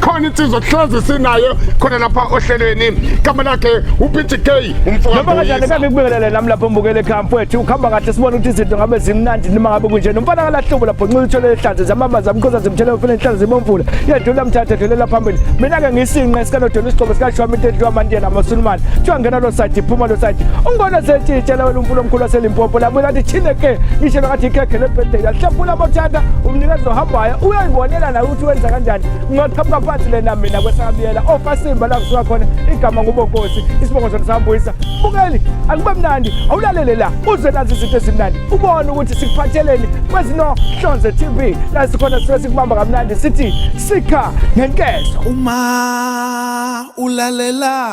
khona insizwa kuhlezi sinayo khona lapha ohlelweni igama lakhe uPT K umfowethu noma kanjani kabe kubingelele nami lapho mbukele ekhaya mfowethu ukhamba kahle sibona ukuthi izinto ngabe zimnandi noma ngabe kunje nomfana kalahlubo lapho nxila uthole ihlazo zamama zamkhoza zimthele ufuna inhlazo zibomvula yedlula mthatha dlulela phambili mina ke ngisinqe sikanodela isigqobo sikashwami into edliwa amantiyela amasulumane kuthiwa ngena lo side iphuma lo side ungibona sethi itshela wena umfula omkhulu waselimpopo labuye lathi thine ke ishe lakathi ikhekhe lebhedela hlephula bothanda umnikezi ohambayo uyayibonela naye ukuthi wenza kanjani ngingaqhamuka phansi lena mina kwesakabiyela ofasimba oh, la kusuka khona igama ngubonkosi isibongo sona sambuyisa bukeli akube mnandi awulalele la uze nazi izinto ezimnandi ubone ukuthi sikuphatheleni kwezinohlonze tv la sikhona sisuke sikubamba kamnandi sithi sikha ngenkezo uma ulalela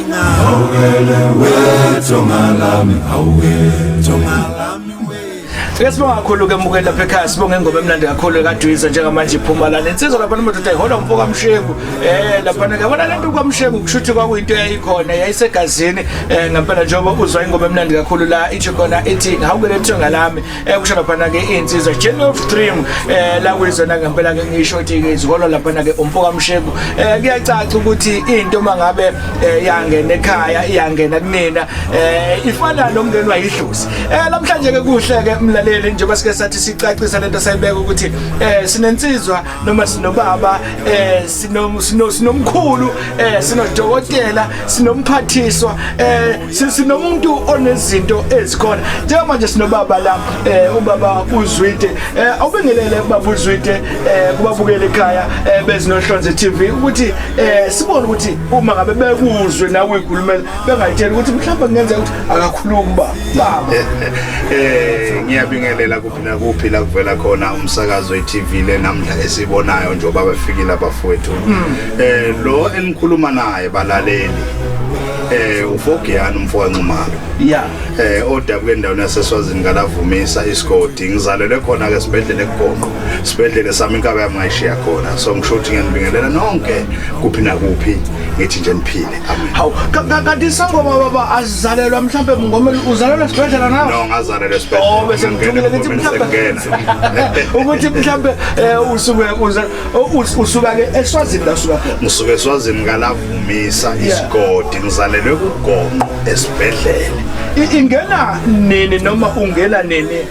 Sike sibonga kakhulu ke mukeli lapha ekhaya sibonge ingoma emnandi kakhulu ekadwiza njengamanje iphuma lana insizwa lapha nomadoda ihola umfo kamshengu eh lapha ke bona lento kwamshengu kushuthi kwakuyinto eyayikhona yayisegazini eh ngempela njengoba uzwa ingoma emnandi kakhulu la ithi khona ithi ngawukele thonga lami eh kusho laphana ke insizwa Gen of Dream eh la kuyizona ngempela ke ngisho ukuthi ke izikolo laphana ke umfoka Msheku eh kuyacaca ukuthi into mangabe eh, yangena ekhaya iyangena kunina eh ifana nomngeni wayidlozi eh namhlanje ke kuhle ke mlaleli njengoba sike sathi sicacisa lento sayibeka ukuthi eh sinensizwa noma sinobaba eh sino sino sinomkhulu eh sinodokotela sinomphathiswa eh sinomuntu onezinto ezikhona njengoba nje sinobaba la eh ubaba uzwide eh awubingelele ubaba uzwide eh kubabukele ekhaya eh bezinohlonze TV ukuthi eh sibone ukuthi uma ngabe bekuzwe nawe ikhulumela bengayitshela ukuthi mhlawumbe kungenzeka ukuthi akakhulumi baba eh ngiyabingelela nakuphi la kuvela khona umsakazo we-tv le namhla esibonayo njengoba befikile abafowethu eh lo enikhuluma naye balaleli eh ufogiyani umfo kancumalo ya eh odabuke endaweni yaseswazini kalavumisa isigodi ngizalelwe khona ke sibhedlela eGonqo sibhedlela sami inkaba yami ngayishiya khona so ngisho ukuthi ngiyanibingelela nonke kuphi nakuphi ngithi nje niphile amen hawu ka- ka- kanti isangoma baba Zalelwa mhlambe mngomeli uzalelwa esibhedlela nawe? No, ngazalelwa esibhedlela. Oh, bese ngithumile ukuthi mhlambe ukuthi mhlambe eh, usuke usuka ke eSwazini la usuka khona. Ngisuka eSwazini ngalavumisa isigodi ngizalelwe kugonqo esibhedlela. Ingena nini noma ungena nini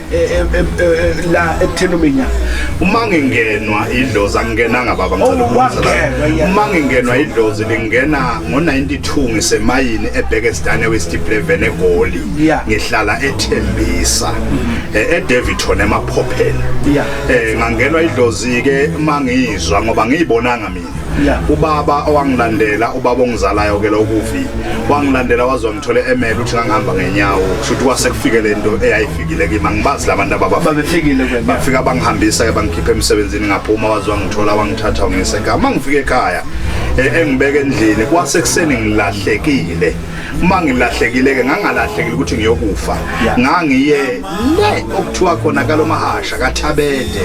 la ekutheni uminya uma ngingenwa idlozi angingenanga baba uma ngingenwa idlozi lingena ngo-92 ngisemayini ebheke sidane westipleven egoli ngihlala ethembisa mm-hmm. eh, edeviton emaphopheni um eh, ngangenwa idlozi-ke uma ngiyizwa ngoba ngiyibonanga mina ubaba owangilandela ubaba ongizalayo ke lokuvi wangilandela waze wangithola emele ukuthi ngangihamba ngenyawo kusho ukuthi kwase kufike le nto eyayifikile kimi angibazi la bantu ababafikile bafika bangihambisa ke bangikhipha emsebenzini ngaphuma waze wangithola wangithatha wangiyisa ekhaya uma ngifika ekhaya eh, engibeke endlini kwase kuseni ngilahlekile uma ngilahlekile-ke ngangalahlekile ukuthi ngiyokufa ngangiye le okuthiwa khona kalomahasha kathabede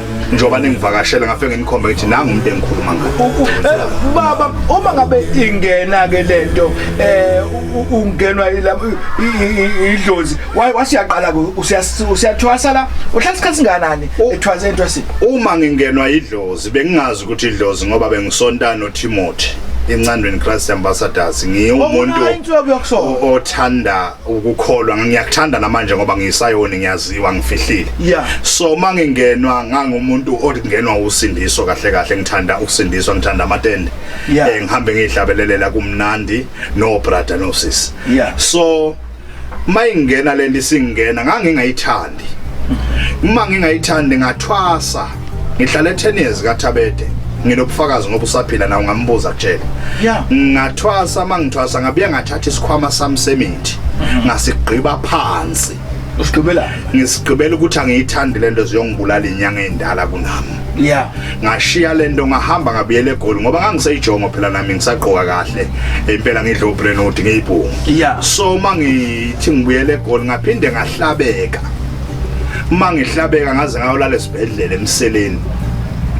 njengoba ningivakashela ngafe nginikhomba ukuthi nangu umuntu engikhuluma ngaye eh, baba uma ngabe ingena ke lento eh ungenwa idlozi wasiyaqala usiyathwasa la uhlala isikhathi singanani ethwasa entwasini uma ngingenwa idlozi bengingazi ukuthi idlozi ngoba bengisontana uTimothy encandweni Christ Ambassadors ngiwumuntu othanda ukukholwa ngiyakuthanda namanje ngoba ngisayoni ngiyaziwa ngifihlile yeah. so mangingenwa ngangumuntu okungenwa usindiso kahle kahle ngithanda ukusindiswa ngithanda amatende yeah. eh, ngihambe ngihlabelelela kumnandi no brother no sis yeah. so mayingena lento isingena ngangingayithandi uma ngingayithandi ngathwasa Ngihlale 10 years kaThabede nginobufakazi ngoba usaphila na ungambuza kutshela ngathwasa mangithwasa ngabuya ngathatha isikhwama sami semithi mhm. ngasigqiba phansi usigqibela ngisigqibela ukuthi angiyithandi lento ziyongibulala inyanga endala kunami yeah ngashiya lento ngahamba ngabuyela egoli ngoba ngangiseyijongo phela nami ngisagqoka kahle impela ngidla ubrenodi ngiyibhungu yeah so mangithi ngibuyela egoli ngaphinde ngahlabeka uma ngihlabeka ngaze ngayolala esibhedlela emseleni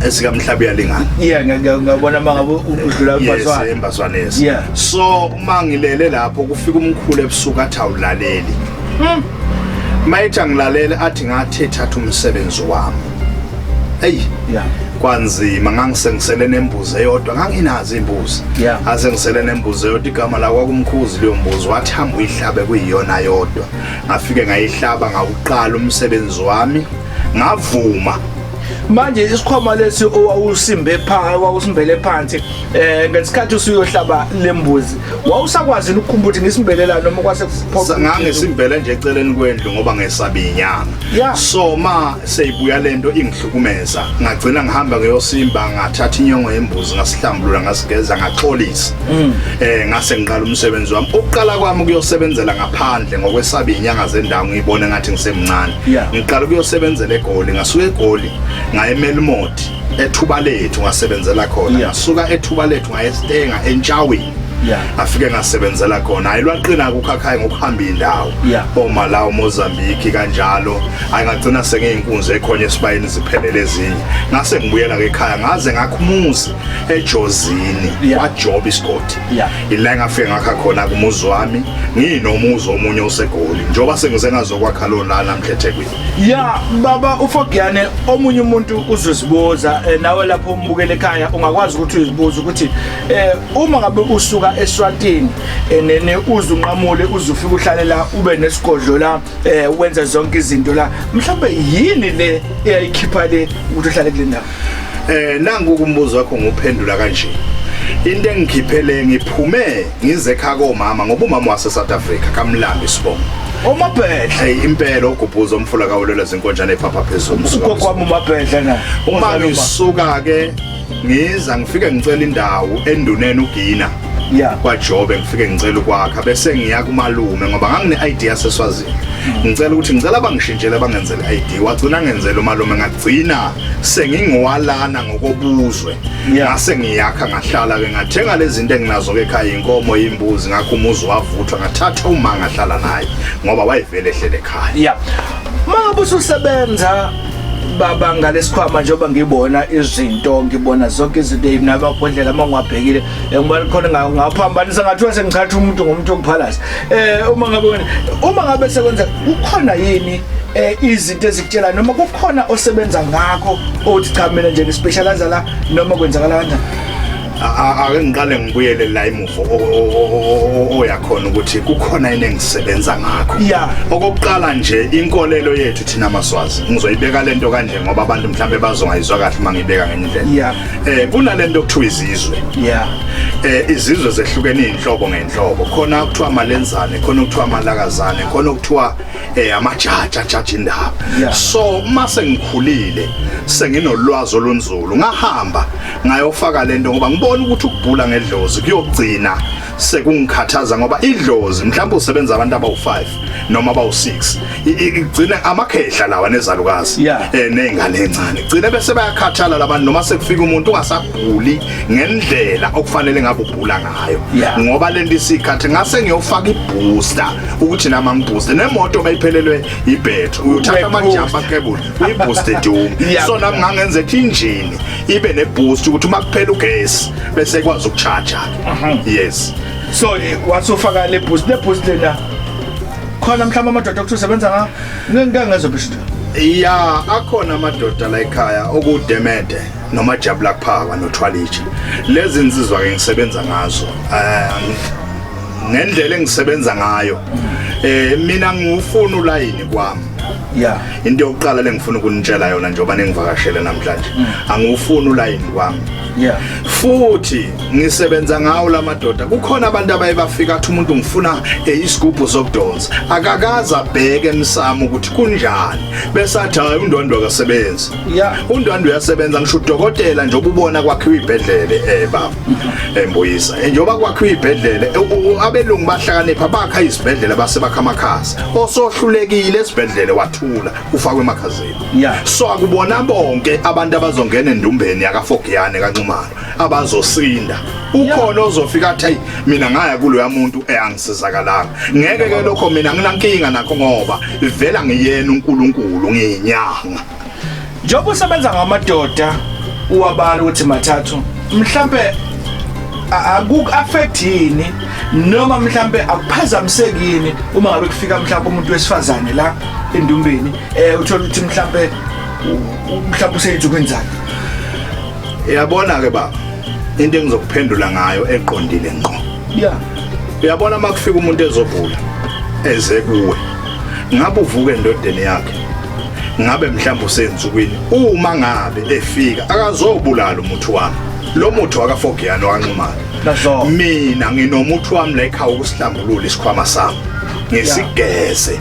esikamhlabi yalingana yeah ngiyabona mangabe udlula umbaswana yes embaswana yes yeah so uma ngilele lapho kufika umkhulu ebusuku athi awulaleli hmm. mayithi angilalele athi ngathi thatha umsebenzi wami eyi yeah kwanzima ngangisengisele nembuzi eyodwa nganginazi imbuzi yeah. asengisele nembuzi eyodwa igama lakwakumkhuzi leyo mbuzi wathi hamba uyihlabe kuyiyona yodwa ngafike ngayihlaba ngawuqala umsebenzi wami ngavuma manje isikhwama lesi owawusimbe phansi wawusimbele phansi eh ngesikhathi usuyohlaba lembuzi wawusakwazi ukukhumbula ukuthi ngisimbelela noma kwase kuphoqa ngangisimbele nje eceleni kwendlu ngoba ngesabe inyanga so ma seyibuya lento ingihlukumeza ngagcina ngihamba ngeyosimba ngathatha inyongo yembuzi ngasihlambulula ngasigeza ngaxolisa mm. eh ngase ngiqala umsebenzi wami ukuqala kwami kuyosebenzela ngaphandle ngokwesaba inyanga zendawo ngiyibone ngathi ngisemncane ngiqala kuyosebenzela egoli ngasuka egoli ngayemela imoti ethuba lethu ngasebenzela khona yeah. suka ethuba lethu ngayestenga entshaweni yeah. afike ngasebenzela khona hayi lwaqina kukhakhayi ngokuhamba indawo yeah. oma lawo mozambique kanjalo angagcina sengiyinkunzi ekhonye esibayeni ziphelele ezinye ngase ngibuyela ke ekhaya ngaze ngakhumuzi ejozini yeah. kwajob isigodi yeah. ila ngafike ngakha khona kumuzi wami ngiyinomuzi omunye osegoli njengoba sengize ngazokwakha lona namhla ethekwini ya baba ufogiyane omunye umuntu uzozibuza eh, nawe lapho umbukele ekhaya ungakwazi ukuthi uzibuze ukuthi eh, uma ngabe usuka eswatini eh, nene uzunqamule uzufika uhlale la ube nesigodlo la wenza zonke izinto la mhlawumbe yini le eyayikhipha le ukuthi uhlale kule ndawo eh nangu kumbuzo wakho nguphendula kanje into engikhiphele ngiphume ngize kha komama ngoba umama wase South Africa kamlambi sibongo umabhedle hey impela ogubhuza umfula kawulela zinkonjane ephapha phezulu ugogo wami umabhedle na uma ngisuka ke ngiza ngifike ngicela indawo enduneni ugina yeah kwajobe ngifike ngicela ukwakha bese ngiya kumalume ngoba ngangine ID yaseswazini hmm. ngicela ukuthi ngicela bangishintshele bangenzele ID wagcina ngenzele umalume ngagcina sengingowalana ngokobuzwe ngase ngiyakha ngahlala ke ngathenga lezinto enginazo ke ekhaya inkomo imbuzi ngakho umuzi wavuthwa ngathatha uma ngahlala naye ngoba wayevele ehlele ekhaya yeah mangabe ususebenza baba ngalesikhwama njengoba ngibona izinto ngibona zonke izinto mina babhodlela uma ngiwabhekile ngibona khona ngaphambanisa ngathiwa sengithatha umuntu ngomuntu okuphalasa um eh, uma ngabe wena uma ngabe sekwenza kukhona yini eh izinto ezikutshela noma kukhona osebenza ngakho othi cha mina nje ngispecialize la noma kwenzakala kanjani ake ngiqale ngibuyele la imuvo oyakhona ukuthi kukhona yini engisebenza ngakho okokuqala nje inkolelo yethu thina maswazi ngizoyibeka lento kanje ngoba abantu mhlambe bazongayizwa kahle uma ngibeka ngendlela eh kunalento okuthiwa izizwe yeah eh izizwe zehlukene izinhlobo ngenhlobo khona okuthiwa amalenzane khona okuthiwa amalakazane khona okuthiwa eh amajaji ajaji indaba so mase ngikhulile senginolwazi olunzulu ngahamba ngayofaka lento ngoba ngibona ukuthi ukubhula ngedlozi kuyogcina sekungikhathaza ngoba idlozi mhlawumbe usebenza abantu abawu5 noma abawu6 igcina amakhehla lawa nezalukazi eh nezingane encane gcine bese bayakhathala labantu noma sekufika umuntu ungasaguli ngendlela okufanele ngabe ubhula ngayo ngoba lento isikhathi ngase ngiyofaka ibooster ukuthi nama ngibooster nemoto bayiphelelwe ibethu uyothatha ama jumper cable uyibooster doom so nami ngangenza ethi injini ibe ne boost ukuthi uma kuphela ugesi bese kwazi ukucharger yes so eh, wasofaka le boost le boost lena khona mhlawumbe amadoda okuthi usebenza ngawo ngeke ngezwa bisho ya akhona amadoda la ekhaya okudemede noma jabula kuphaka nothwalithi lezi nsizwa ke ngisebenza ngazo eh, ngendlela engisebenza ngayo eh mina ngifuna ulayini kwami yeah into yokuqala lengifuna ukunitshela yona njengoba ningivakashele namhlanje mm. angifuni ulayini kwami yeah futhi ngisebenza ngawo lamadoda kukhona abantu abaye bafika athi umuntu ngifuna eh, isigubhu sokudonsa akakaza bheke emsamo ukuthi kunjani bese athi hayi undwandwe akasebenzi yeah undwandwe uyasebenza ngisho udokotela nje obubona kwakhiwa ibhedlele eh baba mm-hmm. embuyisa eh, njengoba kwakhiwa ibhedlele eh, abelungu bahlakanipha bakha izibhedlela base bakha amakhasi osohlulekile esibhedlele wathula ufakwe emakhazini Yeah. So akubona bonke abantu abazongena endumbeni yakafogiyane kanxumalo abazosinda. Ukhona ozofika athi mina ngaya kuloya muntu eangisizakalanga. Ngeke ke lokho mina nginankinga nakho ngoba ivela ngiyena uNkulunkulu ngiyinyanga. Njengoba usebenza ngamadoda uwabala ukuthi mathathu mhlambe akuku-affect yini noma mhlambe akuphazamisekini uma ngabe kufika mhlambe umuntu wesifazane la endumbeni Eh uthola ukuthi mhlambe mhlambe useyithi kwenzani? Uyabona ke baba into engizokuphendula ngayo eqondile ngqo. Yeah. Uyabona makufika umuntu ezogula eze kuwe. Ngabe uvuke endodeni yakhe. Ngabe mhlawumbe usenzukwini uma ngabe efika akazobulala umuthi wami. Lo muthi wakafogiyana wanxumana. Mina nginomuthi wami la ekhaya ukusihlambulula isikhwama sami. ngesigeze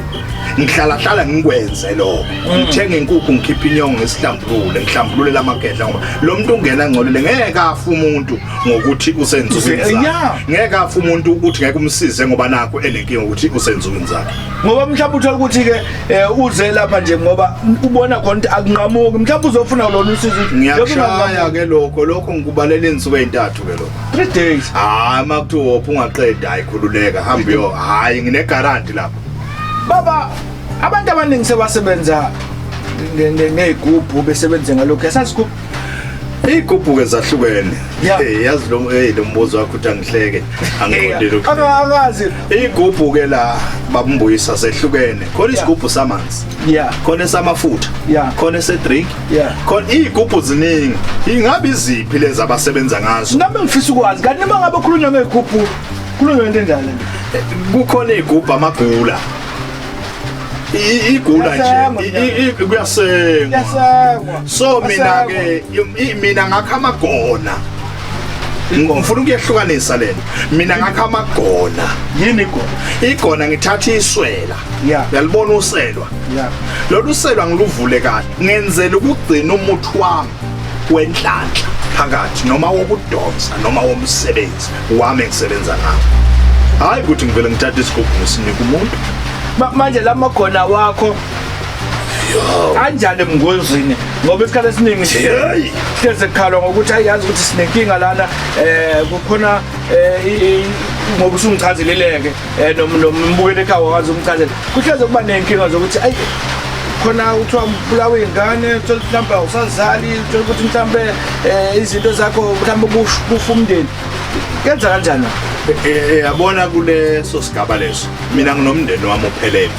ngihlala hlala ngikwenze lokho mm. ngithenga inkukhu ngikhipha inyongo ngesihlambulule ngihlambulule lamagedla ngoba lo muntu ungena ngcolile ngeke afa umuntu ngokuthi usenzukwini zakhe ngeke afa umuntu ukuthi ngeke umsize ngoba nakho enenkinga ukuthi usenzukwini zakhe ngoba mhlawumbe uthola ukuthi ke eh, uze lapha nje ngoba ubona khona ukuthi akunqamuki mhlawumbe uzofuna lona usizo ngiyashaya ke lokho lokho ngikubalela insuku ezintathu ke lokho 3 days hayi makuthiwa ungaqeda ayikhululeka hamba yo hayi ngine guarantee lapha Baba, abantu abaningi sebasebenza nge- nge- ngey'gubhu besebenze ngalokhu yasasigubhu Iy'gubhuke zahlukene. Yeah. Hey, yazi lo hey lo mbuzo wakho uthi angihleke. Angiqondile ukuthi. angazi Iy'gubhuke la babumbuyisa zehlukene. Khona Yeah. isigubhu samanzi. ya khona esamafutha Yeah. khona esedrink Yeah. khona iy'gubhu ziningi ingabe iziphi lezi abasebenza ngazo nami ngifisa ukwazi kanti nima ngabe khulunywa ngey'gubhu Kulo into enjalo. Kukhona igubha amagula. igula nje kuyasengwa so mina ke mina ngakha amagona ngifuna ukuyehlukanisa lena mina ngakha amagona yini igona igona ngithatha iswela yalibona uselwa lolu selwa ngiluvule kahle ngenzela ukugcina umuthi wami wenhlanhla phakathi noma wokudonsa noma womsebenzi wami engisebenza ngawo hhayi ukuthi ngivele ngithathe isigubhu ngisinika umuntu Ma- manje la magona wakho anjani ebungozini ngoba isikhathi esiningi Hey! hleze kukhalwa ngokuthi ayiyazi ukuthi sinenkinga lana um kukhona um ngoba usungichazeleleke Eh noma noma umbukele ekhaya wazi umchazela. Kuhleze kuba nenkinga zokuthi ayi khona kuthiwa ubulawa ingane uthola ukuthi mhlawumbe awusazali uthola ukuthi mhlawumbe eh, izinto zakho mhlawumbe kush- kufa umndeni kenza kanjani Eh, yabona kuleso sigaba leso mina nginomndeni wami ophelele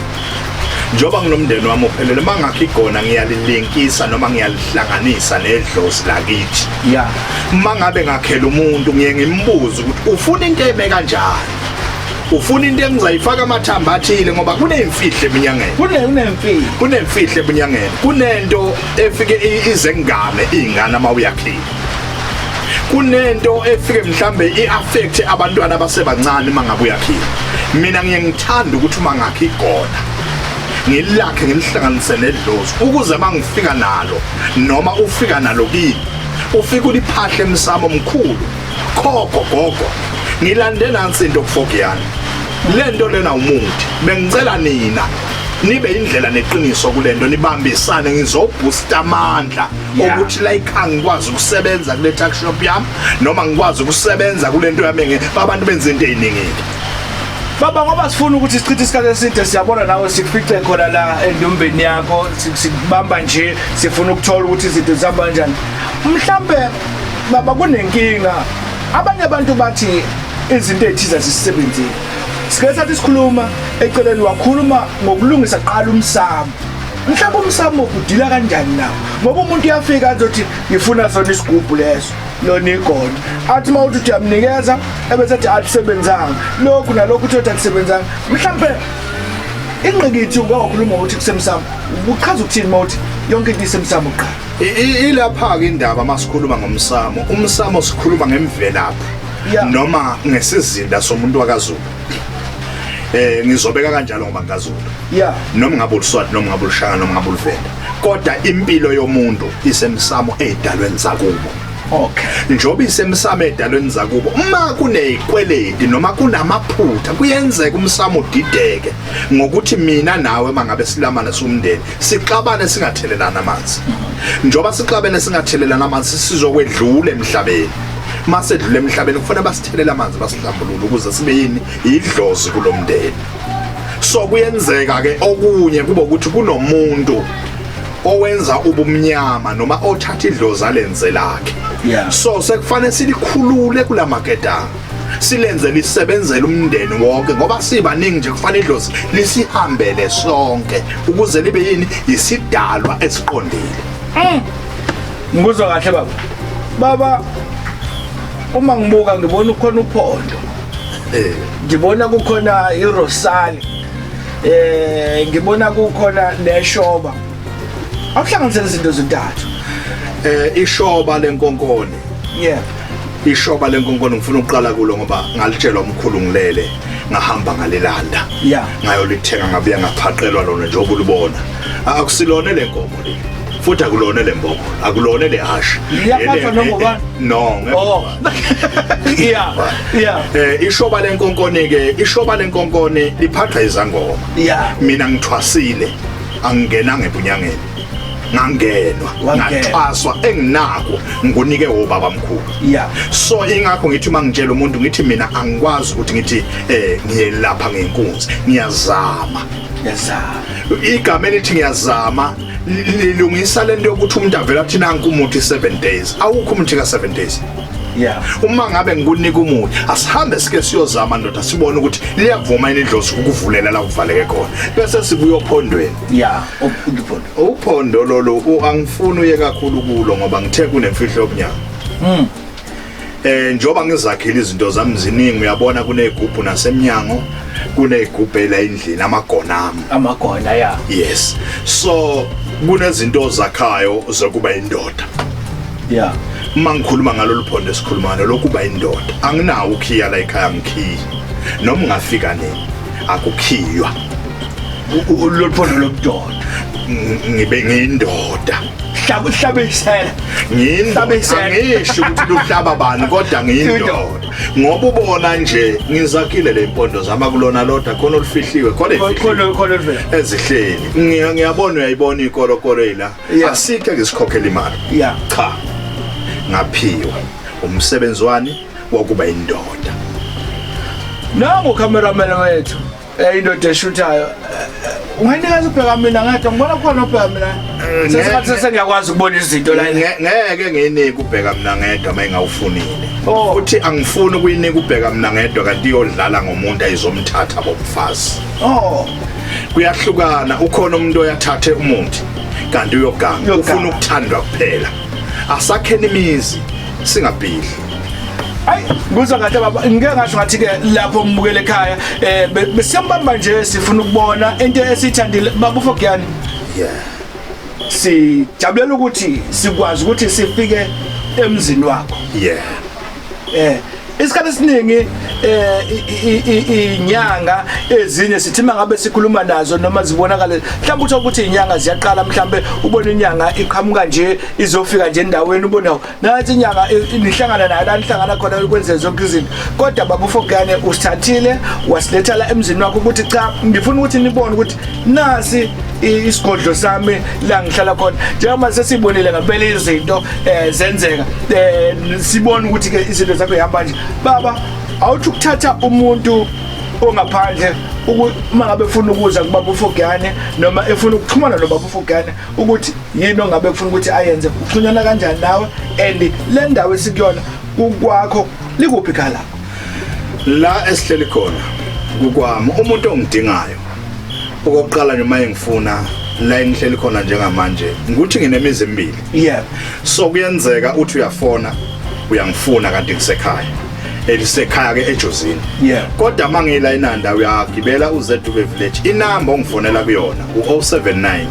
njengoba nginomndeni wami ophelele uma ngakho igona ngiyalilinkisa noma ngiyalihlanganisa nedlozi lakithi ya uma ngabe ngakhela umuntu ngiye ngimbuze ukuthi ufuna into eme kanjani ufuna into engizayifaka amathamba athile ngoba kunemfihlo eminyangeni kunemfihlo kunemfihlo eminyangeni kunento efike izengane izingane uma uyakhile kunento efike mhlambe iaffect abantwana abasebancane mangabe uyakhile mina ngiye ngithanda ukuthi uma ngakhe igona ngilakhe ngilihlanganise nedlozi ukuze mangifika nalo noma ufika nalo kimi ufika uliphahle emsamo omkhulu Khokho gogo, ngilande nansi into kufokiyana. Lento lena umuthi. Bengicela nina nibe indlela neqiniso kulento nibambisane ngizoboosta amandla ukuthi la ikhaya ngikwazi ukusebenza kule tuck shop yami noma ngikwazi ukusebenza kulento yami nge abantu benza into eziningile Baba ngoba sifuna ukuthi sichithe isikhathi eside siyabona nawe sikufice khona la endombeni yakho sikubamba nje sifuna ukuthola ukuthi izinto zihamba kanjani mhlambe baba kunenkinga abanye abantu bathi izinto ezithize zisisebenzile sike sathi sikhuluma eceleni wakhuluma ngokulungisa qala umsamo mhlawumbe umsamo udila kanjani na ngoba umuntu uyafika azothi ngifuna sona isigubhu leso lona igona athi uma uthi uyamnikeza ebese athi akusebenzanga lokhu nalokhu uthi uthi akusebenzanga mhlawumbe ingqikithi ungawakhuluma ukuthi kusemsamo uchaza ukuthini uma uthi yonke into isemsamo kuqala ilapha-ke indaba uma sikhuluma ngomsamo umsamo sikhuluma ngemvelaphi noma ngesizinda somuntu wakazulu eh ngizobeka kanjalo ngoba ngikazulu yeah noma ngabe uluswati noma ngabe ulushaka noma ngabe uluvenda kodwa impilo yomuntu isemsamo ezidalweni zakubo okay njoba isemsamo edalweni zakubo uma kunezikweledi noma kunamaphutha kuyenzeka umsamo udideke ngokuthi mina nawe mangabe silamana somndeni sixabane singathelelana amanzi njengoba sixabene singathelelana amanzi sizokwedlula emhlabeni mase dlule emhlabeni kufanele basithelele amanzi basihlambulule ukuze sibe yini idlozi kulomndeni so kuyenzeka ke okunye kuba ukuthi kunomuntu owenza ubumnyama noma othatha idlozi alenze lakhe yeah. so sekufanele silikhulule kulamaketanga silenze lisebenzele umndeni wonke ngoba sibaningi nje kufana idlozi lisihambele sonke ukuze libe yini yisidalwa esiqondile mm. ngikuzwa kahle baba baba uma ngibuka ngibona ukhona uphondo eh. ngibona kukhona irosali eh ngibona kukhona neshoba akuhlanganisela izinto ezintathu eh ishoba lenkonkoni yeah ishoba lenkonkolo ngifuna ukuqala kulo ngoba ngalitshelwa umkhulu ngilele ngahamba ngalilanda yeah ngayolithenga ngabuya ngaphaqelwa lona njengoba ulibona akusilona lenkomo le futhi akulona lembobo akulona lehasha iyaphatha noma no oh. yeah yeah eh ishoba lenkonkoni ke ishoba lenkonkoni liphatha izangoma yeah mina ngithwasile angingena ngebunyangeni ngangenwa ngaxhaswa enginako ngunike wobaba mkhulu yeah so ingakho ngithi uma ngitshela umuntu ngithi mina angikwazi ukuthi ngithi eh ngiyelapha ngenkunzi ngiyazama ngiyazama igama elithi ngiyazama lilungisa lento yokuthi umuntu avela kuthina nkumuthi 7 days awukho umuthi ka 7 days yeah uma ngabe ngikunika umuthi asihambe sike siyozama ndoda sibone ukuthi liyavuma yini idlozi ukuvulela la kuvaleke khona bese sibuyophondweni ya uphondo lolu angifuni uye kakhulu kulo ngoba ngithe kunemfihlo yobunyanga mm. eh njoba ngizakhile izinto zami ziningi uyabona kunezigubhu nasemnyango kunezigubhu la endlini amagona ami amagona ya yes so kunezinto zakhayo zokuba indoda ya uma ngikhuluma ngalolu phondo esikhuluma ngalo lokuba indoda anginawo ukhiya la ekhaya ngikhiya noma ungafika nini akukhiywa loluphondo lobudoda ngibe ngiyindoda hlaba uhlaba isela ngiyihlaba isela ngisho ukuthi luhlaba bani kodwa ngiyindoda ngoba ubona nje ngizakhile le mpondo zama kulona lodwa khona olufihliwe khona khona khona ezihleli ngiyabona uyayibona ikolokolo ila asike ngisikhokhela imali cha ngaphiwa umsebenzi wani wokuba indoda nangu cameraman wethu Eh indoda eshuthayo. Unganikazi ubheka mina ngedwa ngibona khona ubheka mina. Eh, Sesikhathi sesengiyakwazi ukubona izinto la. Ngeke nginike ubheka mina ngedwa mayingawufunile. Oh. uthi angifuni ukuyinika ubheka mina ngedwa kanti iyodlala ngomuntu ayizomthatha bomfazi oh kuyahlukana ukhona umuntu oyathathe umuthi kanti uyoganga ufuna ukuthandwa kuphela asakheni imizi singabhidli kuza ngathi baba ngike ngasho ngathi ke lapho ngibukele ekhaya eh besiyambamba nje sifuna ukubona into esithandile baba ufogiyani yeah sijabulela ukuthi sikwazi ukuthi sifike emzini wakho yeah eh isikhathi esiningi eh inyanga ezinye sithima ngabe sikhuluma nazo noma zibonakale mhlawumbe uthola ukuthi inyanga ziyaqala mhlawumbe ubona inyanga iqhamuka nje izofika nje endaweni ubona nansi inyanga nihlangana nayo la nihlangana khona ukwenze zonke izinto kodwa baba ufokane usithathile wasiletha la emzini wakho ukuthi cha ngifuna ukuthi nibone ukuthi nasi isigodlo sami la ngihlala khona njengoba sesibonile ngempela izinto um zenzeka um sibone ukuthi-ke izinto zakho ihamba nje baba awuthi ukuthatha umuntu ongaphandle uma ngabe efuna ukuza kubaba ufogane noma efuna ukuxhumana nobaba ufogane ukuthi yini ongabe kufuna ukuthi ayenze uxhunyana kanjani nawe and le ndawo esikuyona kukwakho likuphi khala la esihleli khona kukwami umuntu ongidingayo okokuqala nje maye ngifuna la engihleli khona njengamanje ngikuthi nginemizi emibili yeah so kuyenzeka uthi uyafona uyangifuna kanti ngisekhaya elisekhaya ke ejozini yeah kodwa mangila inanda uyagibela uZW village inamba ongifonela kuyona u079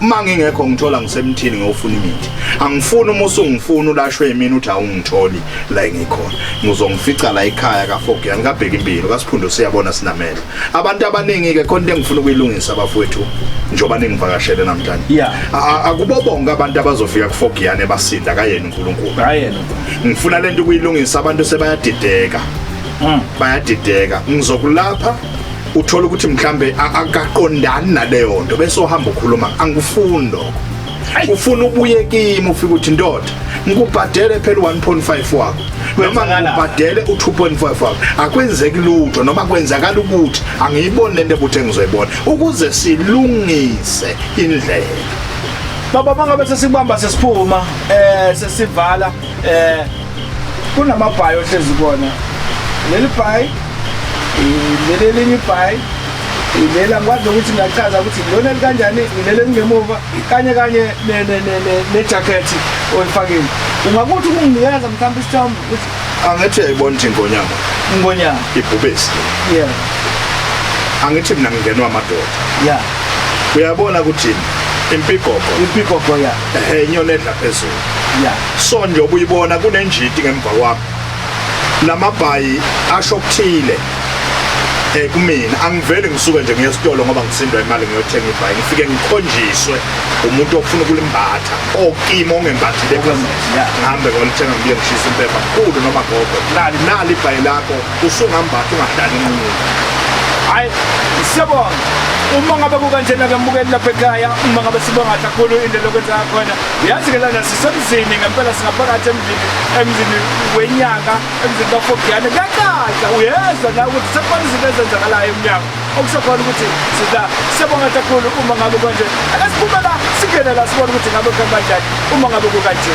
uma ngingekho ngithola ngisemthini ngiyofuna imithi angifuni uma usungifuna ulashwe yimina uthi awungitholi la ngikhona ngizongifica la ekhaya kafogiya ngikabheka impilo kasiphundu siyabona sinamela abantu abaningi-ke khona into engifuna ukuyilungisa bafowethu njengoba ningivakashele namhlanje yeah. akubo bonke abantu abazofika kufogiyane basinda kayena unkulunkulu ngifuna le nto ukuyilungisa abantu sebayadideka mm. bayadideka ngizokulapha uthola ukuthi mhlambe akaqondani naleyo nto bese uhamba ukhuluma angikufuni lokho ufuna ubuye kimi ufike uthi ndoda ngikubhadele phela 1.5 wakho noma ngibhadele u2.5 wakho akwenzeki lutho noma kwenzakala ukuthi angiyiboni lento ebuthe ngizoyibona ukuze silungise indlela baba mangabe sesibamba sesiphuma eh sesivala eh kunamabhayi ohlezi kona leli bhayi leli elinye ibhayi leli angikwazi nokuthi ngiyachaza ukuthi lona likanjani leli elingemuva kanye kanye nejakhethi olifakile ungakuthi ukunginikeza mhlawumbe isithombe ukuthi angithi uyayibona ukuthi ingonyama ingonyama ibhubesi yeah angithi mina ngingenwa amadoda yeah uyabona ukuthi impigogo impigogo ya ehe inyoni edla phezulu ya so njengoba uyibona kunenjiti ngemva kwami lamabhayi asho okuthile eh kumina angivele ngisuke nje ngiye esitolo ngoba ngisindwa imali ngiyothenga ibhayi ngifike ngikhonjiswe umuntu ofuna ukulimbatha okimo ongembathile ngihambe ngolithenga ngiye ngishisa impepha kukhulu noma gogo nali nali ibhayi lakho usungambatha ungadali inqunu hayi siyabonga uma ngabe kukanjena-ke mbukeli lapha ekhaya uma ngabe sibonga kakhulu into lokwenza khona Uyazi ke lana sisemzini ngempela singaphakathi emzini emzini wenyanga emzini kaFogiyane kuyacaca uyezwa la ukuthi sekukhona izinto ezenzakalayo emnyango okusekhona ukuthi sida sebonga kakhulu uma ngabe konje akasiphume la singene la sibone ukuthi ngabe kuhamba kanjani uma ngabe kukanje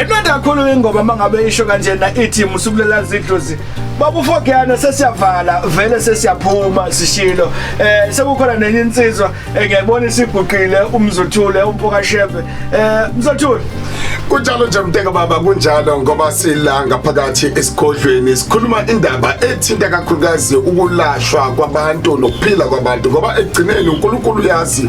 Imnandi kakhulu ingoma mangabe isho kanjena ithi musukulela zidlozi. Babu Fogiyana sesiyavala vele sesiyaphuma sishilo. Eh sekukhona nenye insizwa engiyibona isiguqile umzothule umpoka shebe. Eh mzothule kunjalo nje mteka baba kunjalo ngoba sila ngaphakathi esigodlweni sikhuluma indaba ethinta kakhulukazi ukulashwa kwabantu nokuphila kwabantu ngoba ekugcineni uNkulunkulu uyazi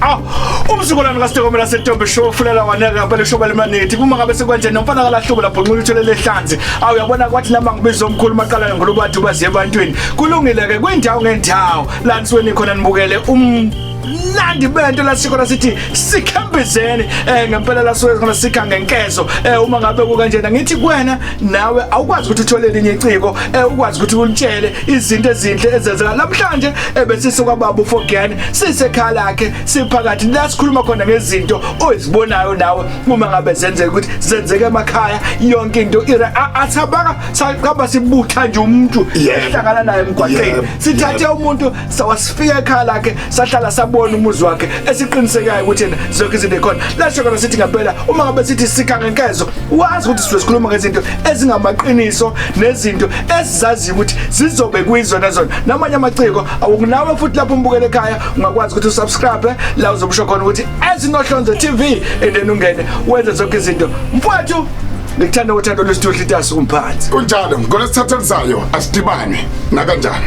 Ah, umzukulwane kaStekomela seTombe show ufulela waneka ngempela ushoba lemanethi kuma ngabe sekwanje nomfana kalahlubo lapho nqula uthole lehlanzi awu yabona kwathi nami ngibiza omkhulu maqalayo ngolo bathi ubazi ebantwini kulungile ke kwindawo ngendawo la nisweni khona nibukele um nandi bento lasikhona sithi sikhambizeni eh ngempela lasuke khona sikha ngenkezo eh uma ngabe kukanjena ngithi kuwena nawe awukwazi ukuthi uthole elinye iciko ewukwazi eh, ukuthi ulitshele izinto ezinhle ezenzeka namhlanje ebesise kwababa uFogani sisekhaya lakhe siphakathi la sikhuluma khona ngezinto ozibonayo nawe uma ngabe zenzeka ukuthi zenzeke emakhaya yonke into ira athabaka saqaba sibutha nje umuntu ehlangana naye emgwaqeni sithathe umuntu sawasifika ekhaya lakhe sahlala sabona umuzi wakhe esiqinisekayo ukuthi yena zonke izinto ekhona lasho kona sithi ngempela uma ngabe sithi sikha ngenkezo wazi ukuthi sizobe sikhuluma ngezinto ezingamaqiniso nezinto esizaziyo ukuthi zizobe kuyizona zona namanye amaciko awukunawe futhi lapho umbukele ekhaya ungakwazi ukuthi usubscribe la uzobusho khona ukuthi ezinohlonze TV and then ungene wenze zonke izinto mfowethu ngikuthanda uthando lwesithuhli itasi kumphathi kunjalo ngolesithatha lizayo asidibane nakanjani